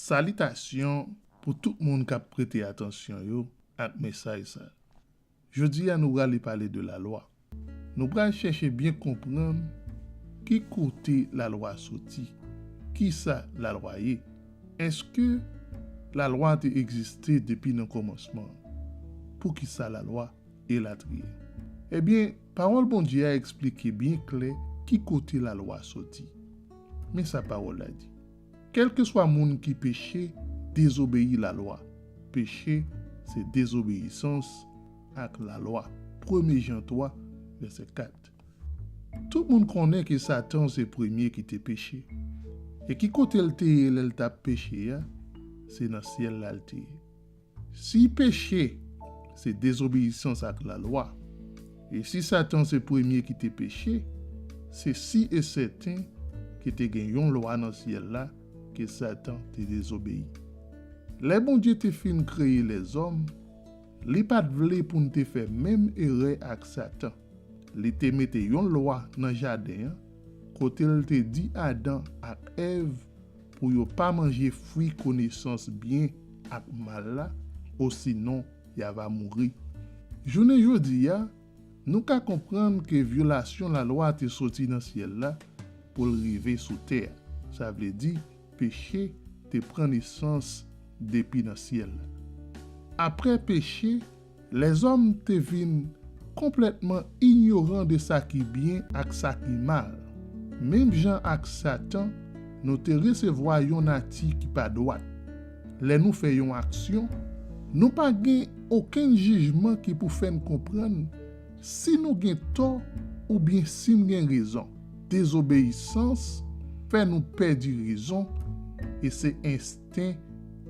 Salitasyon pou tout moun k ap prete atansyon yo ak mesaj sa. Jodi a nou prale pale de lalwa. Nou pral chèche byen konprann ki kote lalwa soti, kisa lalwa ye, èske lalwa te egziste depi nan kòmansman an, poukisa lalwa, elatriye. Ebyen, Pawòl Bondye a esplike byen klè ki kote lalwa soti. Men sa Pawòl la di, Kèlkeswa moun ki peche, dezobeyi lalwa. Peche, se dezobeyisans. ak lalwa. Premye Jan 3, vèsè 4 Tout moun konnen ke Satan se premye ki te peche. E ki kote l te ye lè l t ap peche a? Se nan syèl la l te ye. Si peche se dezobeyisans ak lalwa, e si Satan se premye ki te peche, se si e sèten ke te gen yon lwa nan syèl la ke Satan te dezobeyi. Lè Bondye te fin kreye lèzòm, Li pa t vle pou n te fè menm erè ak Satan. Li te mete yon lwa nan jaden an kote l te di Adan ak Èv pou yo pa manje fwi konesans byen ak mal la osinon y a va mouri. Jounen jodi a, nou ka konprann ke vyolasyon lalwa te soti nan syèl la pou l rive sou tè a, sa vle di peche te pran nesans depi nan syèl. Apre peche, lèzòm te vin konplètman inyoran de sa ki byen ak sa ki mal. Menm jan ak Satan, nou te resevwa yon nati ki pa dwat. Lè nou fè yon aksyon, nou pa gen okenn jijman ki pou fè n konprann Si nou gen tò oubyen si n gen rezon. Dezobeyisans fè nou pèdi rezon e se ensten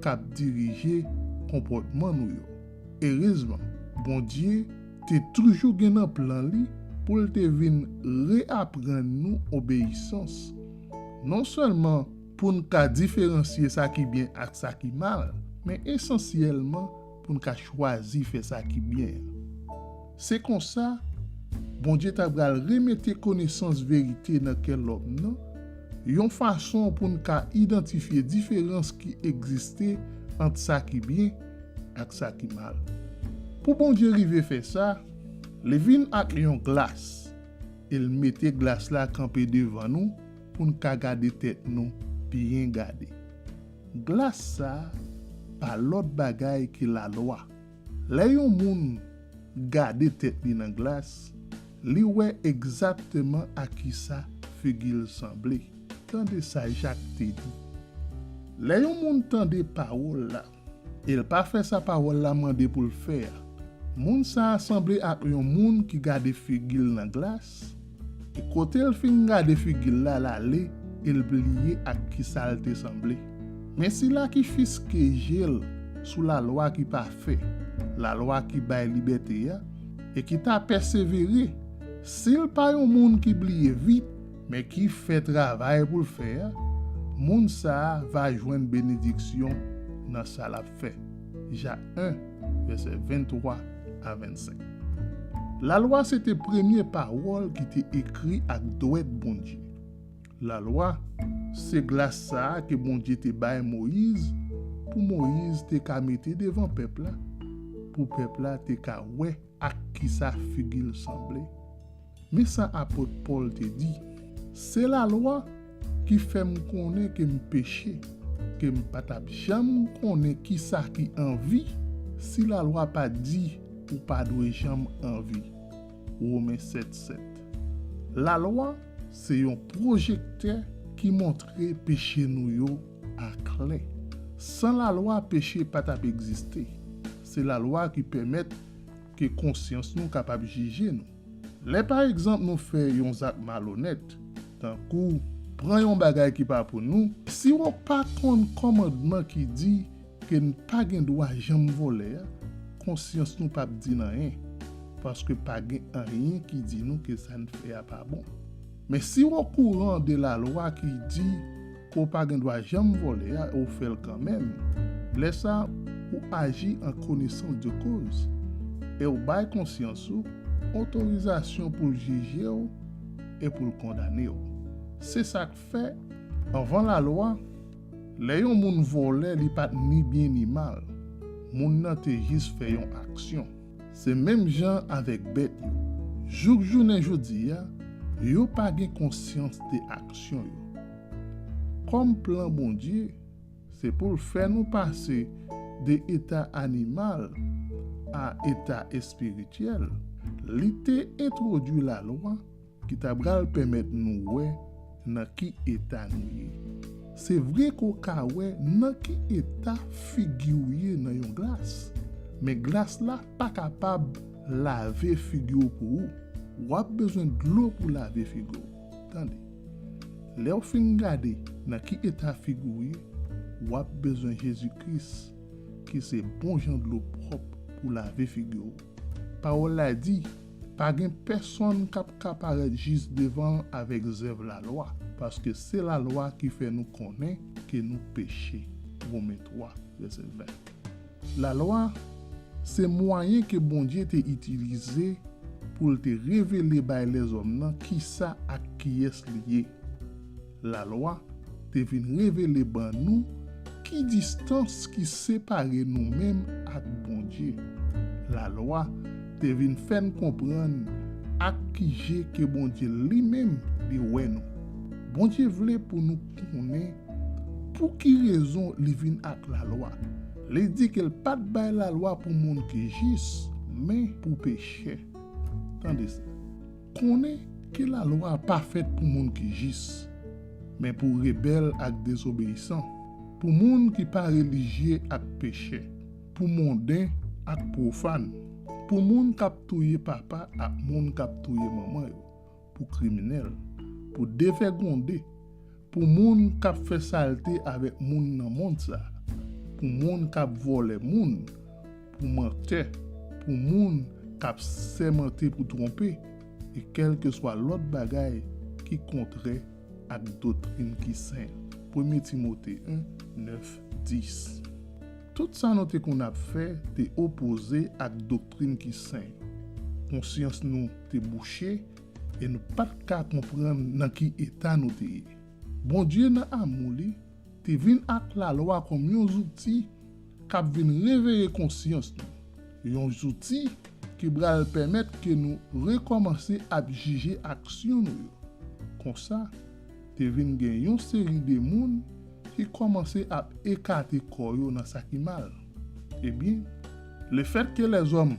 k ap dirije konpòtman nou yo. Erezman, Bondye te toujou gen nan plan li pou l te vin reaprann nou obeyisans, nonsèlman pou n ka diferansye sa ki byen ak sa ki mal, men esansyèlman pou n ka chwazi fè sa ki byen an. Se konsa, Bondye ta pral remete konesans verite nan kè lòm nan, yon fason pou n ka idantifye diferans ki egziste ant sa ki byen ak sa ki mal. Pou Bondye rive fè sa, li vin ak yon glas e l mete glas la kanpe devan nou pou n ka gade tèt nou byen gade. Glas sa a pa lòt bagay ke lalwa. Lè yon moun gade tèt li nan glas, li wè egzakteman a kisa figi l sanble. Tande sa Jak te di, Lè yon moun tande pawòl la, e l pa fè sa pawòl la mande pou l fè a, moun sa a sanble ak yon moun ki gade figi l nan glas, E kote l fin gade figi l la, l ale e l bliye ak ki sa l te sanble. Men sila ki fiske je l sou lalwa ki pafè, lalwa ki bay libète a, e ki ta pèsevere, si l pa yon moun ki bliye vit, men ki fè travay pou l fè a, moun sa a va jwenn benediksyon nan sa l ap fè. Ja 1, vèsè 23. a 25. Lalwa se te premye pawòl ki te ekri ak dwèt Bondye. Lalwa, se glas sa a ke Bondye te bay Moyiz pou Moyiz te ka mete devan pèp la, pou pèp la te ka wè ak kisa figi l sanble. Men sa apot Pòl te di, Se lalwa ki fè m konnen ke m peche, ke m pa t ap janm konnen kisa ki anvi si lalwa pa t di, 'Ou pa dwe janm anvi. Women 7, 7. Lalwa se yon pwojektè ki montre peche nou yo aklè. San lalwa peche pa t ap egziste. Se lalwa ki pèmèt ke konsyans nou kapab jije nou. Lè pa egzanp nou fè yon zak malonèt, tankou pran yon bagay ki pa pou nou, si wou pa konn kòmandman ki di ke n pa gen dwa janm vòlè a, konsyans nou pap di n anyen, paske pa gen anyen ki di nou ke sa n fè a pa bon. Men si wou okouran de lalwa ki di ou pa gen dwa janm vòlè a e ou fè l kanmenm, lè sa ou aji an konesans de koz e ou bay konsyans ou otorizasyon pou l jije w e pou l kondane w. Se sa k fè, anvan lalwa, lè yon moun vòlè li pa t ni byen ni mal, moun nan te jis fè yon aksyon. Se menm jan avèk bèt yo. Jouk jounen jodi a, yo pa gen konsyans de aksyon yo. Kòm plan Bondye, se pou l fè nou pase de eta animal a eta espirityèl, li te entwodui lalwa Ki ta pral pèmèt nou wè nan ki eta nou ye. Se vre ke w ka wè nan ki eta figi w ye nan yon glas, men glas la pa kapab lave figi w pou ou. W ap bezwen dlo pou lave figi w. Tande. Lè w fin gade nan ki eta figi w ye, w ap bezwen Jezi Kris ki se bonjan dlo pwòp pou lave figi w. Pawòl la di. Pa gen pèsonn k ap ka parèt jis devan l avèk zèv lalwa, paske se lalwa ki fè nou konnen ke nou peche, Women 3, vèsè 20. Lalwa, se mwayen ke Bondye te itilize pou l te revele bay lèzòm nan kisa ak kiyès li ye. Lalwa te vin revele ban nou ki distans ki separe nou menm ak Bondye. Lalwa te vin fè n konprann ak ki je ke Bondye Li menm Li wè nou. Bondye vle pou nou konnen pou ki rezon Li vin ak lalwa. Li di ke L pa t bay lalwa pou moun ki jis, men pou pechè. Tande sa. Konnen ke lalwa a pa fèt pou moun ki jis, men pou rebèl ak dezobeyisan, pou moun ki pa relijye ak pechè, pou monden ak pwofàn, pou moun k ap touye papa ak moun k ap touye manman yo, pou kriminèl, pou devègonde, pou moun k ap fè salte avèk moun nan mond sa a, pou moun k ap vòlè moun, pou mantè, pou moun k ap sèmante pou twonpe, e kèlkeswa lòt bagay ki kontrè ak doktrin ki sen. Premye Timote 1, 9, 10. Tout sa nou te konn ap fè te opoze ak doktrin ki sen. Konsyans nou te bouche e nou pa t ka konprann nan ki eta nou te ye. Bondye nan amou li te vin ak lalwa kòm yon zouti k ap vin reveye konsyans nou, yon zouti ki pral pèmèt ke nou rekòmanse ap jije aksyon nou yo. Konsa, te vin gen yon seri de moun ki kòmanse ap ekate kò yo nan sa ki mal. Ebyen, lefètke lèzòm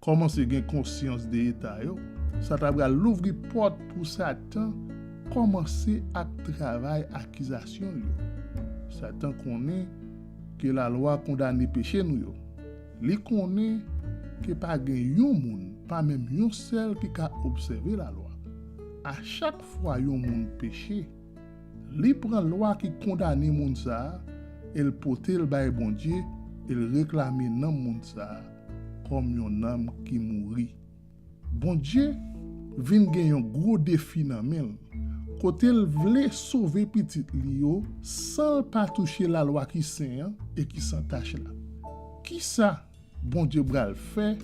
Kòmanse gen konsyans de eta yo, sa ta pral louvri pòt pou Satan kòmanse ak travay akizasyon l yo. Satan konnen ke lalwa kondane peche nou yo. Li konnen ke pa gen yon moun, pa menm yon sèl ki ka obsève lalwa. A chak fwa yon moun peche, li pran lwa ki kondane moun sa a e l pote l bay Bondye e l reklame nanm moun sa a. kòm yon nanm ki mouri. Bondye vin gen yon gwo defi nan men l, kote l vle sove pitit li yo san l pa touche lalwa ki sen an e ki san tach la. Ki sa Bondye pral fè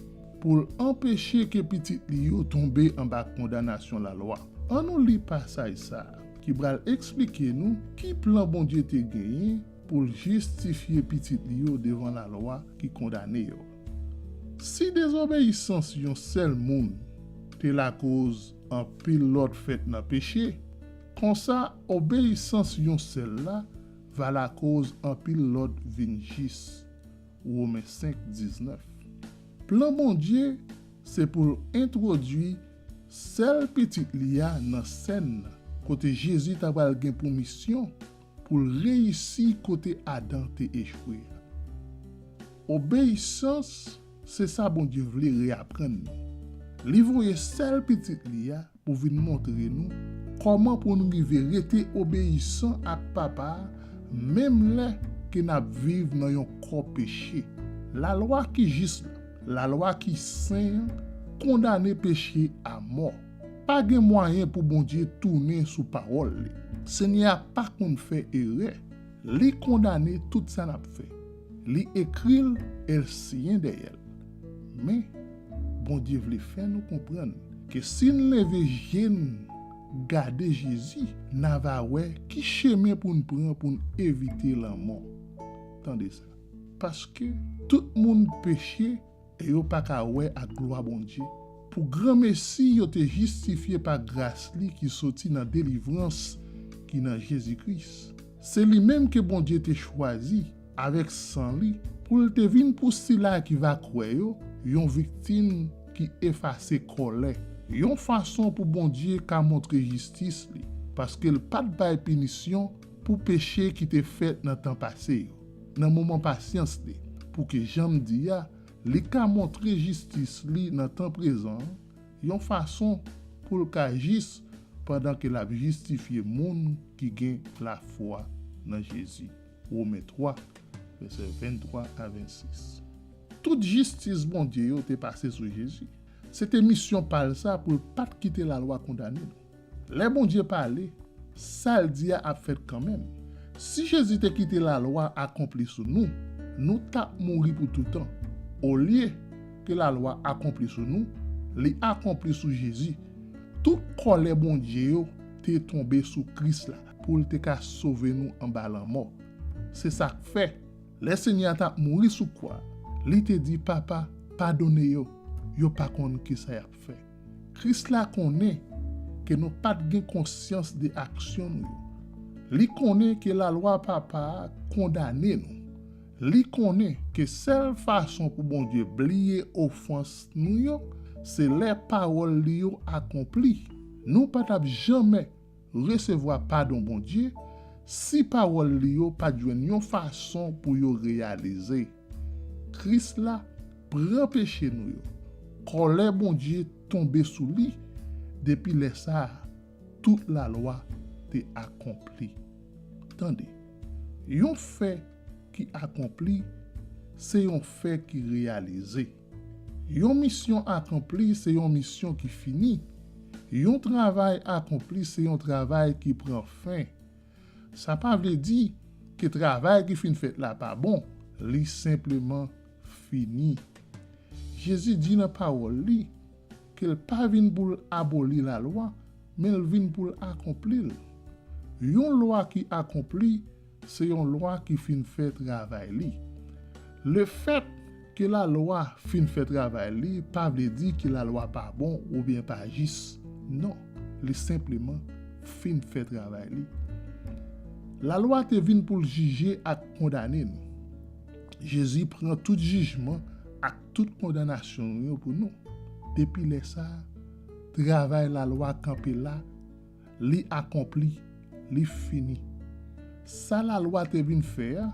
pou l anpeche ke pitit li yo tonbe anba kondanasyon lalwa? Annou li pasaj sa a ki pral esplike nou ki plan Bondye te genyen pou l jistifye pitit li yo devan lalwa ki kondane yo. Si dezobeyisans yon sèl moun te lakoz anpil lòt fèt nan peche, konsa obeyisans yon sèl la va lakoz anpil lòt vin jis. Women 5, 19. Plan Bondye se pou l entwodui sèl Pitit li a nan sèn nan, kote Jezi ta pral gen pou misyon, pou l reyisi kote Adan te echwe a. Obeyisans se sa Bondye vle reyaprann nou. Li voye sèl Pitit li a pou vin montre nou kòman pou n rive rete obeyisan ak Papa a menm lè ke n ap viv nan yon kò peche. Lalwa ki jis la, lalwa ki sen an, kondane peche a mò. Pa gen mwayen pou Bondye tounen sou pawòl li. Senyè a pa konn fè erè. Li kondane tout sa n ap fè. Li ekri l e l siyen dèyè l. Men, Bondye vle fè nou konprann ke si n leve je n gade Jezi, n a va wè ki chemen pou n pran pou n evite lanmò. Tande sa, Paske tout moun peche, E yo pa ka wè ak glwa Bondye. Pou granmesi yo te jistifye pa gras li ki soti nan delivrans ki nan Jezi Kris. Se li menm ke Bondye te chwazi, avèk san li, pou l te vin pou sila ki va kwè yo, yon viktim ki efase kòlè, yon fason pou Bondye ka montre jistis li, paske l pa t bay pinisyon pou peche ki te fèt nan tan pase yo. nan moman pasyans li, pou ke jan m di a, li ka montre jistis li nan tan prezan an, yon fason pou l ka jis pandan ke l ap jistifye moun ki gen lafwa nan Jezi. Women 3, vèsè 23 a 26. Tout jistis Bondye yo te pase sou Jezi. Se te misyon pa l sa pou l pa t kite lalwa kondane nou. Lè Bondye pale, sa l di a ap fèt kanmenm. Si Jezi te kite Lalwa akonpli sou nou, nou t ap mouri pou toutan. Olye ke Lalwa akonpli sou nou, li akonpli sou Jezi. Tout kòlè Bondye yo te tonbe sou Kris la pou l te ka sove nou anba lanmò. Se sa k fè, lè Senyè a t ap mouri sou kwa, li te di, Papa, padone yo, yo pa konn ki sa y ap fè. Kris la konnen ke nou pa t gen konsyans de aksyon nou yo. Li konnen ke lalwa Papa a kondane nou. Li konnen ke sèl fason pou Bondye bliye ofans nou yo se lè pawòl li yo akonpli. Nou pa t ap janmè resevwa padon Bondye si pawòl li yo pa t jwenn yon fason pou yo reyalize. Kris la pran peche nou yo, kòlè Bondye tonbe sou li, depi lè sa a, tout Lalwa te akonpli. Tande, yon fè ki akonpli se yon fè ki reyalize. Yon misyon akonpli se yon misyon ki fini. Yon travay akonpli se yon travay ki pran fen. Sa pa vle di ke travay ki fin fèt la pa bon, li senpleman fini. Jezi di nan pawòl li ke l pa vin pou l aboli lalwa, men l vin pou l akonpli l. Yon lwa ki akonpli se yon lwa ki fin fè travay li. Lefèt ke lalwa fin fè travay li pa vle di ke lalwa pa bon oubyen pa jis. Non, li senpleman fin fè travay li. Lalwa te vin pou l jije ak kondane nou. Jezi pran tout jijman ak tout kondanasyon nou yo pou nou. Depi lè sa a, travay lalwa kanpe la. Li akonpli. Li fini. Sa Lalwa te vin fè a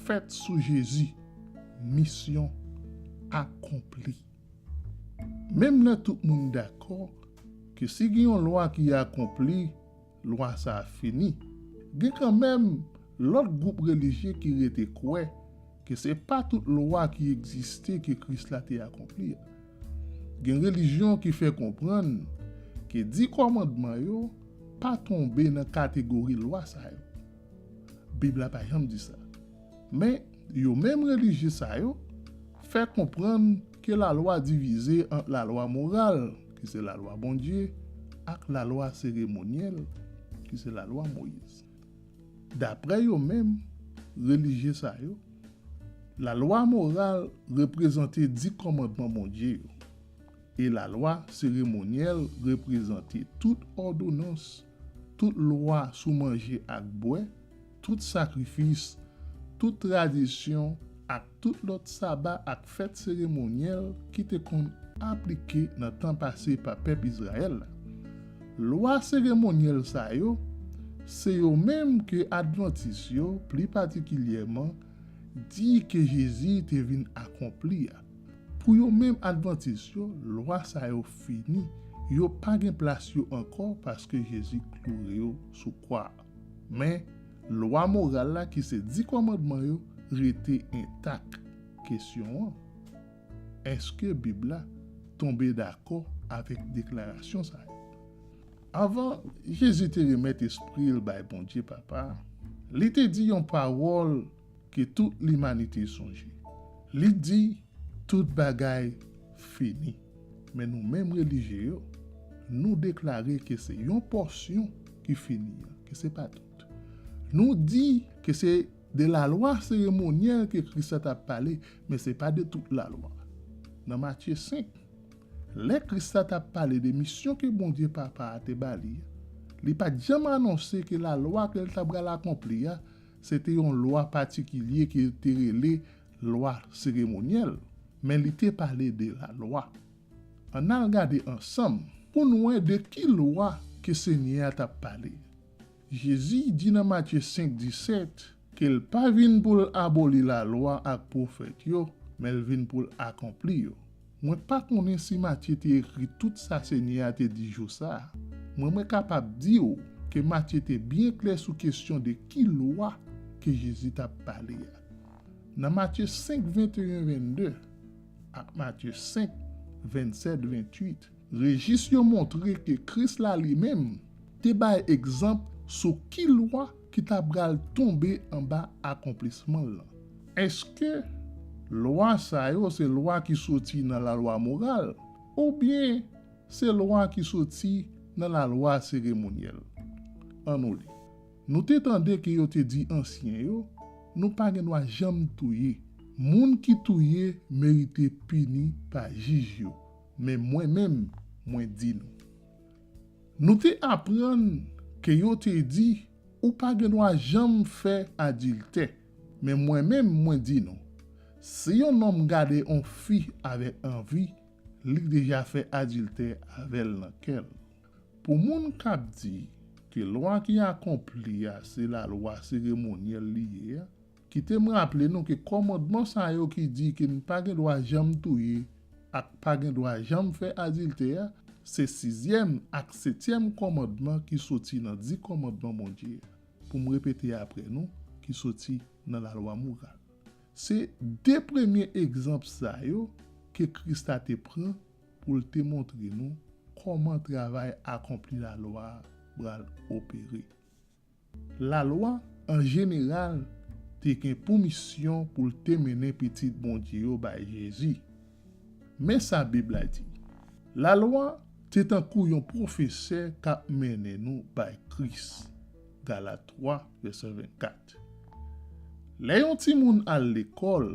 fèt sou Jezi. Misyon akonpli. Menm lè tout moun dakò ke si gen yon lwa ki akonpli, lwa sa a fini, gen kanmenm lòt gwoup relijye ki rete kwè ke se pa tout lwa ki egziste ke Kris la te akonpli. Gen relijyon ki fè konprann ke Di Kòmandman yo pa tonbe nan kategori lwa sa yo. Bib la pa janm di sa. Men, yo menm relijye sa yo fè konprann ke lalwa divize ant lalwa moral, ki se lalwa Bondye, ak lalwa seremonyèl, ki se lalwa Moyiz. Daprè yo menm, relijye sa yo, lalwa moral reprezante di kòmandman Bondye yo, e lalwa seremonyèl reprezante tout òdonans, tout lwa sou manje ak bwè, tout sakrifis, tout tradisyon ak. tout lòt saba ak fèt seremonyèl ki te konn aplike nan tan pase pa pèp Izrayèl la. Lwa seremonyèl sa yo, se yo menm ke advantis yo, pli patikilyèman, di ke Jezi te vin akonpli a. Pou yo menm advantis yo, lwa sa yo fini, yo pa gen plas yo ankò paske Jezi kloure yo sou kwa a. Men, lwa moral la ki se Di Kòmandman yo rete entak. Kesyon an, Èske Bib la tonbe dakò avèk deklarasyon sa yo? Anvan Jezi te remèt espri l bay Bondye Papa a, li te di yon pawòl Ke tout limanite sonje. Li di, Tout bagay fini. Men nou menm relijye yo, nou deklare ke se yon pòsyon ki fini an, ke se pa tout. Nou di ke se de lalwa seremonyèl ke Kris la t ap pale, men se pa de tout lalwa. Nan Matye 5, lè Kris la t ap pale de misyon ke Bondye Papa a te ba li, li pa t janm anonse ke lalwa ke l t apral akonpli a Se te yon lwa patikilye ke yo te rele lwa seremonyèl, men li te pale de lalwa. Ann al gade ansanm pou n wè de ki lwa ke Senyè a t ap pale. Jezi di nan Matye 5, 17 ke l pa vin pou l aboli lalwa ak pwofèt yo, men l vin pou l akonpli yo. Mwen pa konnen si Matye te ekri tout sa Senyè a te di jou sa a, mwen mwen kapab di ou ke Matye te byen klè sou kesyon de ki lwa ke Jezi t ap pale a. Nan Matye 5, 21, 22, ak Matye 5, 27, 28, Rejis yo montre ke Kris la li menm te bay egzanp sou ki lwa ki ta pral tonbe anba akonplisman l lan. Èske lwa sa yo se lwa ki soti nan lalwa moral oubyen se lwa ki soti nan lalwa seremonyèl? Annou li, Nou te tande ke yo te di ansyen yo, 'Nou pa gen dwa janm touye. Moun ki touye merite pini pa jij yo. Men mwen menm, mwen di nou. Nou te aprann ke yo te di, Ou pa gen dwa janm fè adiltè. Men mwen menm, mwen di nou, si yon nonm gade yon fi avèk anvi, li deja fè adiltè avè l nan kè l. Pou moun k ap di ke lwa ki akonpli a se lalwa seremonyèl li ye a, Kite m raple nou ke kòmandman sa yo ki di ke n pa gen dwa janm touye ak pa gen dwa janm fè adiltè a, se sizyèm ak setyèm kòmandman ki soti nan di kòmandman Bondye a, pou m repete apre nou, ki soti nan lalwa moral. Se de premye egzanp sa yo ke Kris la te pran pou l te montre nou kòman travay akonpli lalwa a pral opere. Lalwa, an jeneral, te gen pou misyon pou l te mennen pitit Bondye yo bay Jezi. Men sa Bib la di, Lalwa te tankou yon pwofesè k ap mennen nou bay Kris. Galat 3, vèsè 24 Lè yon timoun al lekòl,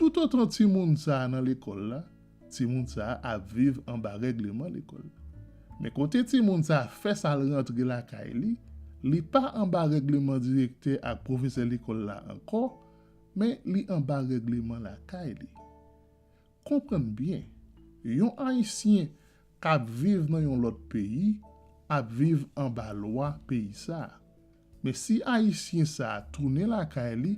toutotan timoun sa a nan lekòl la, timoun sa a ap viv anba règleman lekòl. Men kote timoun sa a fè sa l rantre lakay li, li pa anba règleman direktè ak pwofesè lekòl la ankò, men li anba règleman lakay li. Konprann byen, yon Ayisyen k ap viv nan yon lòt peyi ap viv anba lwa peyi sa a. Men si ayisyen sa tounen lakay li,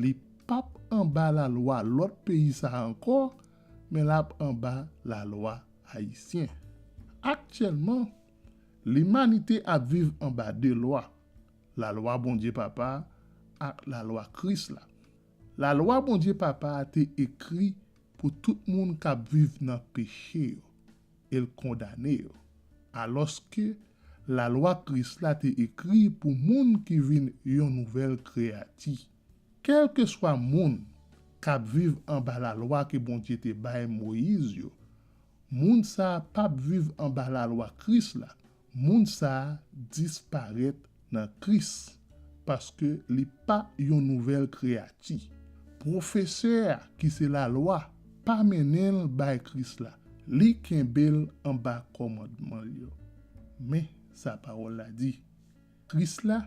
li pap anba lalwa lòt peyi sa ankò, men lap anba lalwa ayisyen. Aktyèlman, limanite ap viv anba 2 lwa, lalwa Bondye Papa a ak lalwa Kris la. Lalwa Bondye Papa a te ekri pou tout moun kap viv nan peche yo. e l kondane yo. Alòske, lalwa Kris la te ekri pou moun ki vin yon nouvèl kreyati. Kèlkeswa moun k ap viv anba lalwa ke Bondye te bay Moyiz yo, moun sa a pap viv anba lalwa Kris la Moun sa disparèt nan Kris, paske li pa yon nouvèl kreyati. Pwofesè a, ki se Lalwa, pa mennen l bay Kris la, li kenbe l anba kòmandman l yo. Men sa Pawòl la di, Kris la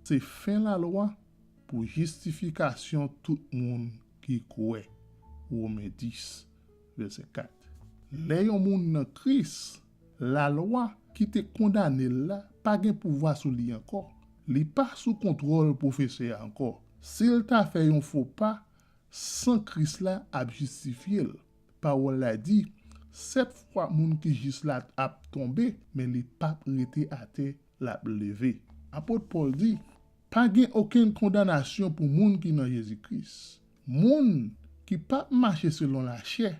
se fen Lalwa pou jistifikasyon tout moun ki kwè. Women 10, vèsè 4. Lè yon moun nan Kris. Lalwa ki te kondane l la pa gen pouvwa sou li ankò. Li pa sou kontwòl pwofesè a ankò. Si l ta fè yon fo pa, san Kris la ap jistifye l. Pawòl la di, Sèt fwa moun ki jis la ap tonbe, men li pap rete atè, l ap leve. Apot Pòl di, Pa gen okenn kondanasyon pou moun ki nan Jezi Kris. Moun ki pap mache selon lachè,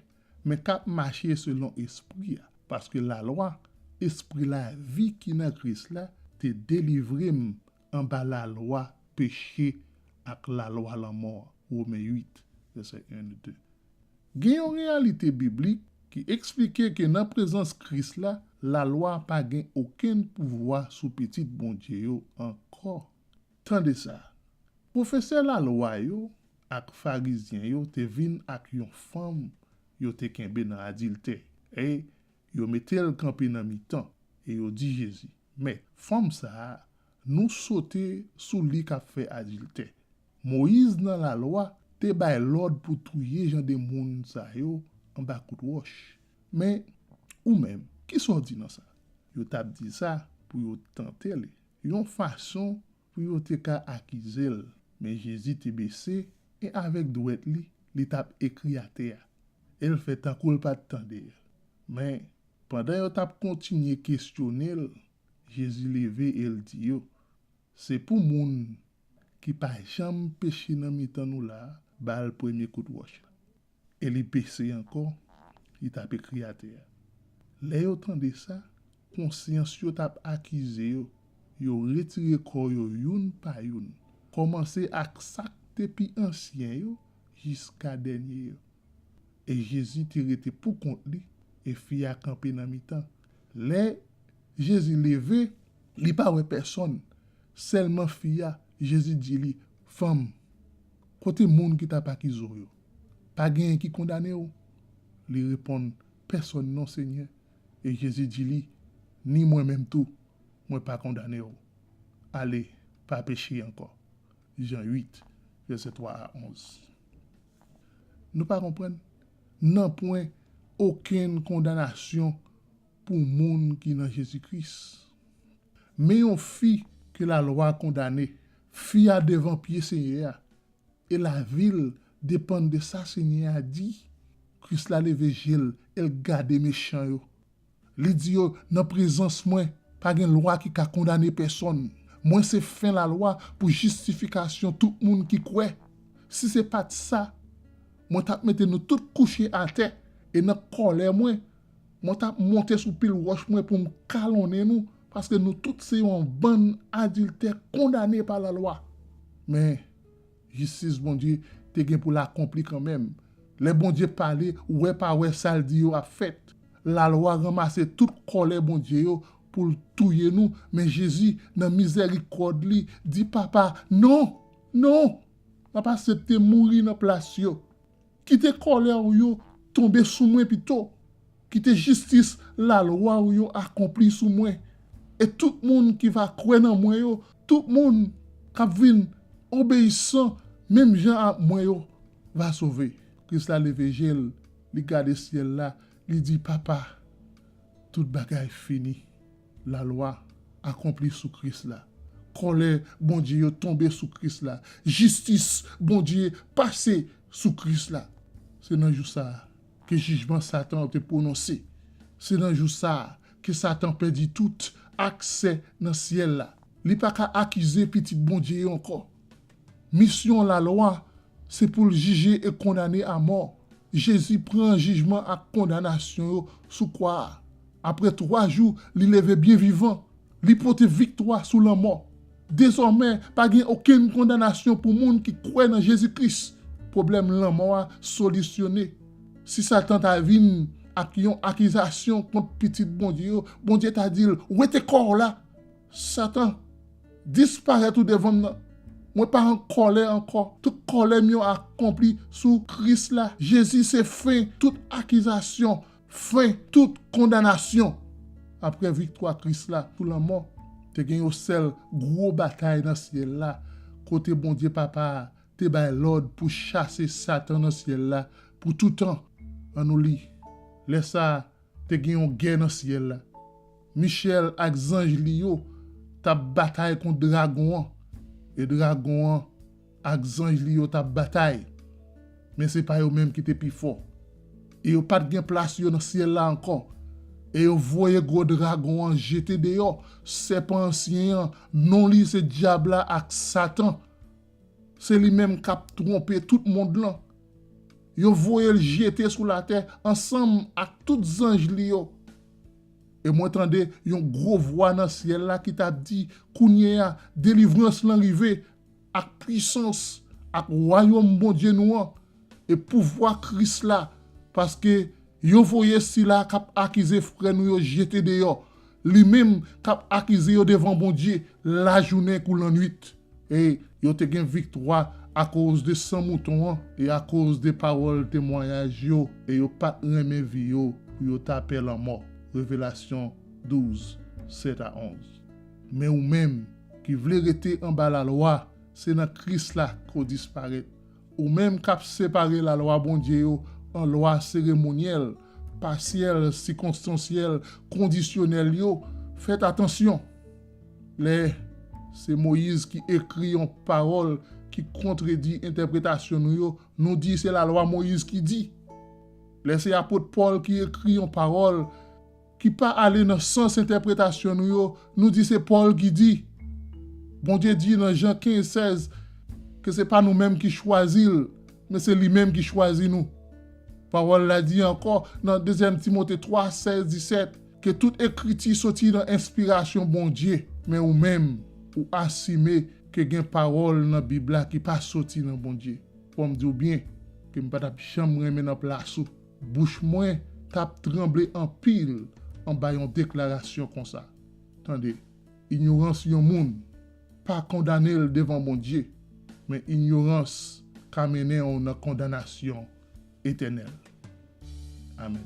men k ap mache selon Espri a, paske lalwa, Espri lavi ki nan Kris la, te delivre m anba lalwa peche ak lalwa lanmò a. Women 8, vèsè 1, 2. Gen yon reyalite biblik ki esplike ke nan prezans Kris la, lalwa pa gen okenn pouvwa sou pitit Bondye yo ankò. Tande sa, pwofesè lalwa yo ak farizyen yo te vin ak yon fanm yo te kenbe nan adiltè, e yo mete l kanpe nan mitan, e yo di Jezi, Mèt, fanm sa a, nou sote sou li k ap fè adiltè. Moyiz nan lalwa te bay lòd pou touye jan de moun sa yo anba kout wòch. Men, ou menm, kisa w di nan sa? Yo t ap di sa pou yo tante li. yon fason pou yo te ka akize l. Men Jezi te bese, e avèk dwèt li, li t ap ekri atè a, e l fè tankou l pa t tande yo. Men, pandan yo t ap kontinye kesyone l, Jezi leve e l di yo, Se pou moun ki pa janm peche nan mitan nou la a ba l premye kout wòch la. E li bese ankò, li t ap ekri atè. Lè yo tande sa, konsyans yo t ap akize yo, yo retire kò yo youn pa youn, kòmanse ak sa k te pi ansyen yo jiska dènye yo. E Jezi te rete poukont li, e fi a kanpe nan mitan. Lè Jezi leve, li pa wè pèsonn, sèlman fi a, Jezi di li, Fanm, kote moun ki t ap akize w yo? Pa genyen ki kondane ou? Li reponn, Pèsòn non, Senyè. E Jezi di li, Ni mwen menm tou, mwen pa kondane ou. Ale, pa peche ankò. Jan 8, vèsè 3 a 11. Nou pa konprann? Nanpwen okenn kondanasyon pou moun ki nan Jezi Kris. Men yon fi ke lalwa kondane. Fi a devan pye Senyè a, E lavi l depann de sa Senyè a di. Kris la leve je l e l gade mechan yo. Li di yo, Nan prezans mwen, pa gen lwa ki ka kondane pèsonn. Mwen se fen lalwa pou jistifikasyon tout moun ki kwè. Si se pa t sa, mwen t ap mete nou tout kouche atè, e nan kòlè mwen, Mwen t ap monte sou pil wòch mwen pou m kalonnen nou, paske nou tout se yon bann adiltè kondane pa lalwa. Men, jistis Bondye te gen pou l akonpli kanmenm. Lè Bondye pale, wè pa wè sa l di yo ap fèt. Lalwa ranmase tout kòlè Bondye yo pou l touye nou, men Jezi, nan mizèrikòd li, di Papa, Non! Non! M ap asepte mouri nan plas yo. Kite kòlè ou yo tonbe sou mwen pito, kite jistis lalwa ou yo akonpli sou mwen, e tout moun ki va kwè nan mwen yo, tout moun k ap vin obeyisan menm jan ak mwen yo, va sove. Kris la leve je l, li gade syèl la, li di, Papa, tout bagay fini. Lalwa akonpli sou Kris la. Kòlè Bondye yo tonbe sou Kris la. Jistis Bondye pase sou Kris la. Se nan jou sa a ke jijman Satan an te pwononse. Se nan jou sa a ke Satan pèdi tout aksè nan syèl la. Li pa ka akize pitit Bondye yo ankò. Misyon lalwa se pou l jije e kondane amò. Jezi pran jijman ak kondanasyon yo sou kwa a. Apre twa jou, li leve byen vivan. Li pote viktwa sou lanmò. Dezòmè, pa gen okenn kondanasyon pou moun ki kwè nan Jezi Kris. Pwoblèm lanmò a solisyone. Si Satan ta vin ak yon akizasyon kont pitit Bondye yo, Bondye ta di l, Wete kò w la! Satan, disparèt ou devan m nan. Mwen pa an kòlè ankò. Tout kòlè m yo akonpli sou Kris la. Jezi se fen tout akizasyon, fen tout kondanasyon. Aprè viktwa Kris la sou lanmò, te gen yon sèl gwo batay nan syèl la, kote Bondye Papa a te bay lòd pou chase Satan nan syèl la pou toutan. An nou li, Lè sa a, Te gen yon gè nan syèl la. Michèl ak zanj li yo t ap batay kont dragon an, e dragon an ak zanj li yo t ap batay. Men se pa yo menm ki te pi fò. E yo pa t gen plas yo nan syèl la ankò. E yo voye gwo dragon an jete deyò, sèpan ansyen an, non li se Dyab la ak Satan, Se li menm kap twonpe tout mond lan. Yo voye l jete sou latè ansanm ak tout zanj li yo. E mwen tande yon gwo vwa nan syèl la ki tap di, Kounyeya, delivrans lan rive, ak pwisans, ak wayòm Bondye nou an, e pouvwa Kris la, paske yo voye sila a k ap akize frè nou yo jete deyò, li menm k ap akize yo devan Bondye lajounen kou lannuit. E yo te gen viktwa akozde san mouton an e akozde pawòl temwayaj yo, e yo pa t renmen vi yo pou yo ta pè lanmò. Revelasyon 12, 7 a 11 Men ou menm, ki vle rete anba lalwa, se nan Kris la ke w disparèt, Ou menm k ap separe lalwa Bondye yo an lwa seremonyèl, pasyèl, sikonstansyèl, kondisyonèl yo, fèt atansyon! Lè se Moyiz ki ekri yon pawòl ki kontredi entèpretasyon nou yo, nou di se lalwa Moyiz ki di. Lè se apot Pòl ki ekri yon pawòl ki pa ale nan sans entèpretasyon nou yo, nou di se Pòl ki di. Bondye di nan Jan 15, 16 ke se pa nou menm ki chwazi l, men se li menm ki chwazi nou. Pawòl la di ankò nan Dezyèm Timote 3, 16, 17 ke tout ekriti soti nan enspirasyon Bondye, men ou menm ou asime ke gen pawòl nan Bib la ki pa soti nan Bondye. Fò m di w byen ke m pa t ap janm renmen nan plas ou. Bouch mwen t ap tranble anpil anba yon deklarasyon konsa. Tande, inyorans yon moun pa kondane l devan Bondye, men inyorans ka mennen w nan kondanasyon etènèl. Amèn.